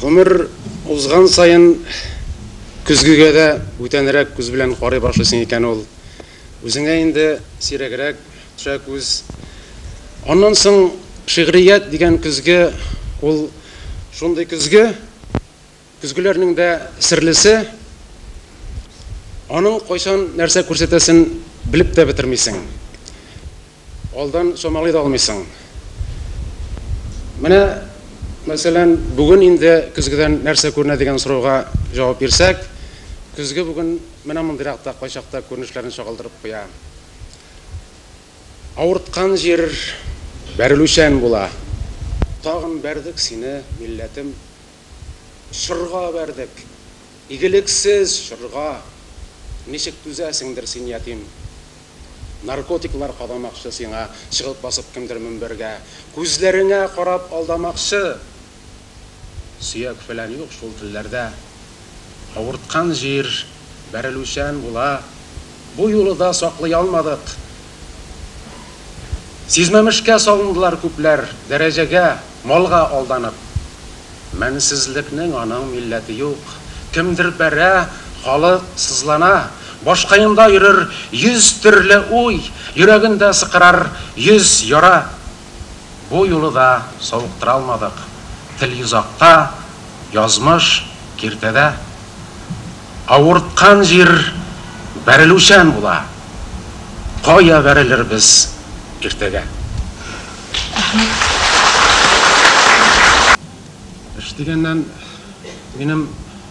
Гомер узган саен көзгегә дә бүтәнрәк күз белән карый башлыйсың икән ул. Үзеңә инде сирәгрәк төшә күз. Аннан соң шигърият дигән көзге, ул шундый көзге, Көзгеләрнең дә серлесе, аның кайчан нәрсә күрсәтәсен белеп тә бетермисең. Алдан чамалый да алмыйсың. Менә, мәсәлән, бүген инде көзгедән нәрсә күренә дигән сорауга җавап бирсәк, көзге бүген менә мондыйрак та кайчакта күренешләрен чагылдырып куя. Авырткан җир бәрелүчән була. Тагын бәрдек сине, милләтем, Чорга бәрдек, игелексез чорга. Ничек түзәсеңдер син, ятим? Наркотиклар кадамакчы сиңа, чыгып басып кемдер мөнбәргә. Күзләреңә карап алдамакчы. Сөяк-фәлән юк шул телләрдә. Авырткан җир бәрелүчән була. Бу юлы да саклый алмадык, Сизмәмешкә салындылар күпләр, дәрәҗәгә, малга алданып. Мәнсезлекнең аның милләте юк. Кемдер бәрә, халык сызлана. Баш каенда йөрер йөз төрле уй, йөрәгендә сыкырар йөз яра. Бу юлы да савыктыра алмадык, Телъюзакта, язмыш, киртәдә. Авырткан җир бәрелүчән була, Кая бәрелербез иртәгә? Эш дигәннән, минем.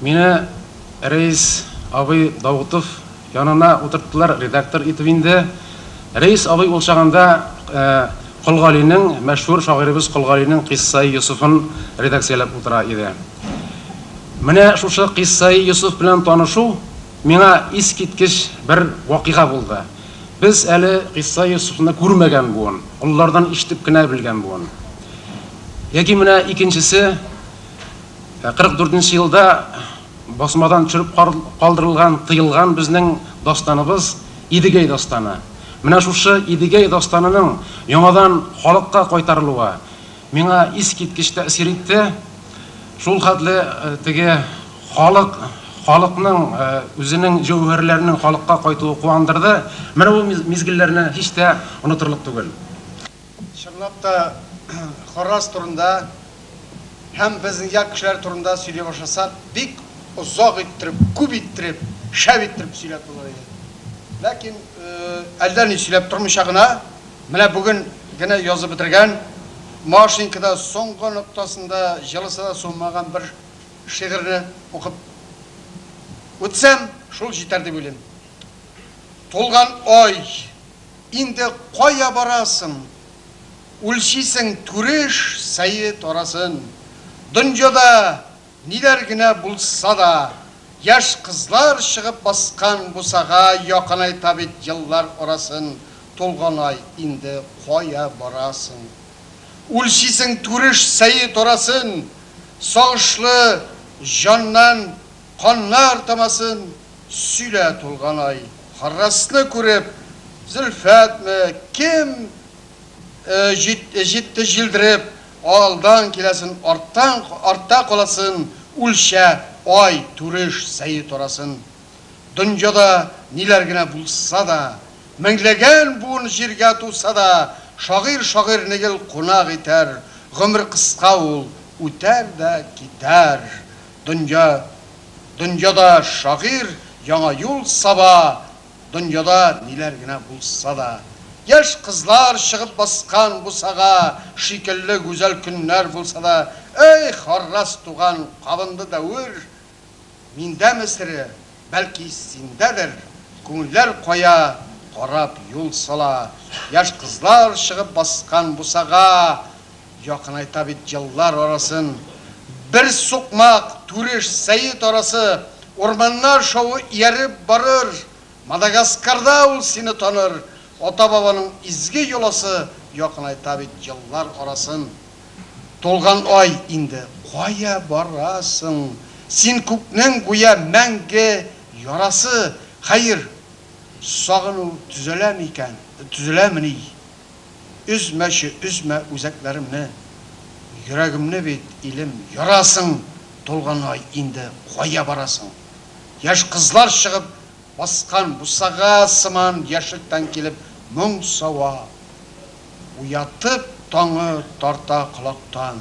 Мине Рәис абый Даутов янына утырттылар, редактор итеп инде. Рәис абый ул чагында Кол Галинең, мәшһүр шагыйребез Кол Галинең Кыйссаи Йосыфын редакцияләп утыра иде. Менә шушы Кыйссаи Йосыф белән танышу миңа искиткеч бер вакыйга булды. Без әле Кыйссаи Йосыфны күрмәгән буын, олылардан ишетеп кенә белгән буын. Яки менә икенчесе, Ә 44 нче елда басмадан төшереп калдырылган, тыелган безнең дастаныбыз, Идегәй дастаны. Менә шушы Идегәй дастанының яңадан халыкка кайтарылуы миңа искиткеч тәэсир итте. Шул хәтле теге халык, халыкның үзенең җәүһәрләренең халыкка кайтуы куандырды. Менә бу мизгелләрне һич тә онытырлык түгел. Чынлап та, Харрас турында һәм безнең як кешеләре турында сөйли башласак, бик озак иттереп, күп иттереп, шәп иттереп сөйләп булыр иде. Ләкин әллә ни сөйләп тормыйча гына, менә бүген генә язып бетергән, Машенькада соңгы ноктасында җылысы да суынмаган бер шигырьне укып үтсәм, шул җитәр дип уйлыйм. Тулган ай. Инде кая барасың? Үлчисең түреш сәе тарасын. Дөньяда ниләр генә булса да, Яшь кызлар чыгып баскан бусага Якынайта бит еллар арасын. Тулганай, инде кая барасың? Үлчисең түреш сәе тарасын. Сагышлы җаннан Каннар тамасын сөйлә тулган ай. Харрасны күреп, Зөлфәтме, кем җитте җилдереп, Алдан киләсен, артта каласын, Үлчә, ай, түреш, сәе тарасын. Дөньяда ниләр генә булса да, Меңләгән буын җиргә туса да, Шагыйрь шагыйрьне гел кунак итәр, Гомер кыска ул, үтәр дә китәр. Дөнья, дөньяда шагыйрь яңа юл саба, Дөньяда ниләр генә булса да. Яшь кызлар чыгып баскан бусага Шикелле гүзәл көннәр булса да. Эй, харрас туган, кабынды дәвер, Миндәме сере, Бәлки синдәдер, күңелләр кая карап юл сала, Яшь кызлар чыгып баскан бусага, Якынайта бит еллар арасын. Бер сукмак, Түреш, Сәет арасы, Урманнар шавы ияреп барыр, Мадагаскарда ул сине таныр, Ата-бабаның изге йоласы, Якынайта бит еллар арасын. Тулган ай инде, кая барасың Син күкнең гүя мәңге ярасы, Хәер, сагыну төзәлә микән, төзәләмени? Өзмәче, өзмә үзәкләремне, Йөрәгемне бит, илем, ярасың, Тулган ай инде, кая барасың? Яшь кызлар чыгып баскан бусага сыман яшьлектән килеп моң сава. Уятып таңы тарта колактан.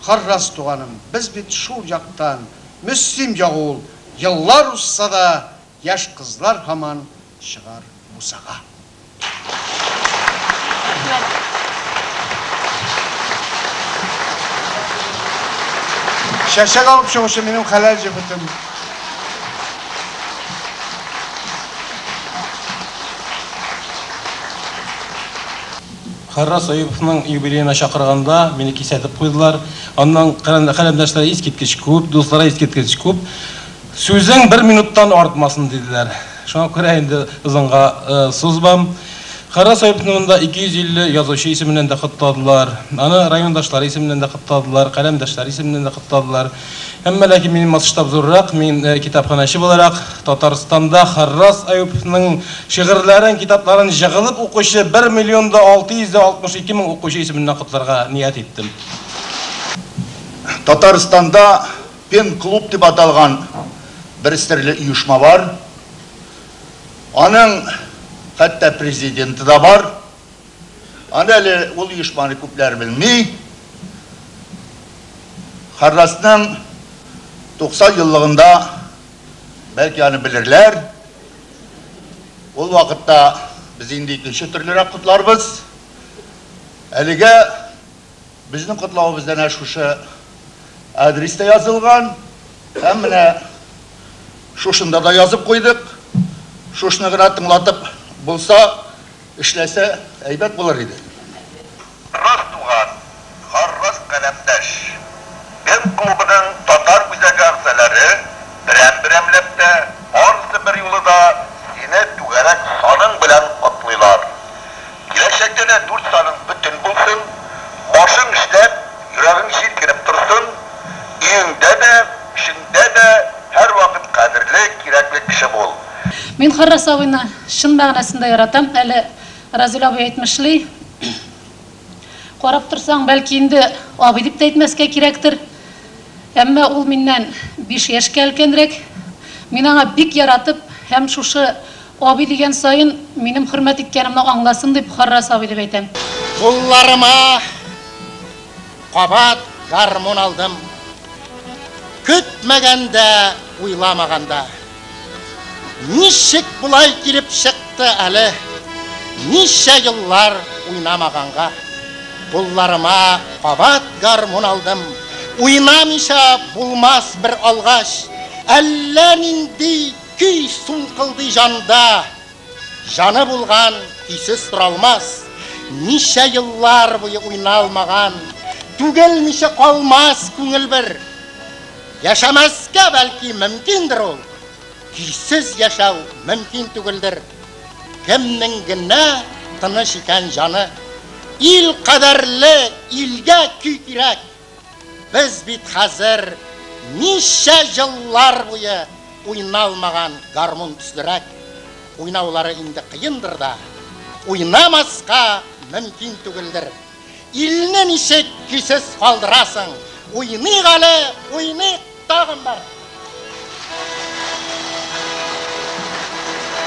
Харрас туганым, без бит шул яктан, Мөслим ягы ул, еллар узса да, Яшь кызлар һаман чыгар бусага. Рәхмәт. Чәчәк алып чыгучы минем хәләл җефетем. Хәррас Әюповның юбилеена чакырганда, мине кисәтеп куйдылар. Аннан каләмдәшләре искиткеч күп, дуслары искиткеч күп. Сүзең бер минуттан артмасын, диделәр. Шуңа күрә инде озынга сузмам. Хәррас Әюповны монда 250 язучы исеменнән дә котладылар. Аны райондашлары исеменнән дә котладылар, каләмдәшләре исеменнән дә котладылар. Әмма ләкин минем масштаб зуррак, мин китапханәче буларак, Татарстанда Харрас Аюповның шигырьләрен, китапларын җыгылып укучы бер миллион да алты йөз дә алтмыш ике мең укучы исеменнән котларга ният иттем. Татарстанда Пен-клуб дип аталган бер серле оешма бар. Аның хәтта президенты да бар. Аны әле ул оешманы күпләр белми. Харласның 90 еллыгында бәлки аны белерләр. Ул вакытта без инде икенче төрлерәк котларбыз. Әлегә безнең котлавыбыз әнә шушы адреста язылган. Һәм менә шушында да язып куйдык. Шушны гына тыңлатып булса, Эшләсә әйбәт булыр иде. Рас туган, гаррас каләмдәш. Без клубының татар үзәге әгъзаләре берәм-берәмләп тә, барысы берьюлы да сине түгәрәк саның белән котлыйлар. Киләчәктә дә дүрт саның бөтен булсын, башың эшләп, йөрәгең җилкенеп торсын, өеңдә дә, эшеңдә дә һәрвакыт кадерле, кирәкле кеше бул. Мин Харрас абыйны чын мәгънәсендә яратам, әле Разил абый әйтмешли, карап торсаң, бәлки инде абый дип тә әйтмәскә кирәктер, әмма ул миннән биш яшькә өлкәнрәк. Мин аңа бик яратып һәм шушы абый дигән саен минем хөрмәт иткәнемне аңласын дип Харрас абый дип әйтәм. Кулларыма кабат гармун алдым. Көтмәгәндә, уйламаганда. Ничек болай килеп чыкты әле? Ничә еллар уйнамаганга. Кулларыма кабат гармун алдым. Уйнамыйча булмас бер алгач. Әллә нинди көй сулкылдый җанда. Җаны булган көйсез тора алмас. Ничә еллар буе уйналмаган. Түгелмичә калмас күңел бер. Яшәмәскә бәлки мөмкиндер ул, көйсез яшәү мөмкин түгелдер. Кемнең генә тыныч икән җаны. Ил кадәрле илгә көй кирәк. Без бит хәзер ничә еллар буе уйналмаган гармун төслерәк. Уйнаулары инде кыендыр да, уйнамаска мөмкин түгелдер. Илне ничек көйсез калдырасың? Уйныйк әле, уйныйк, тагын бар.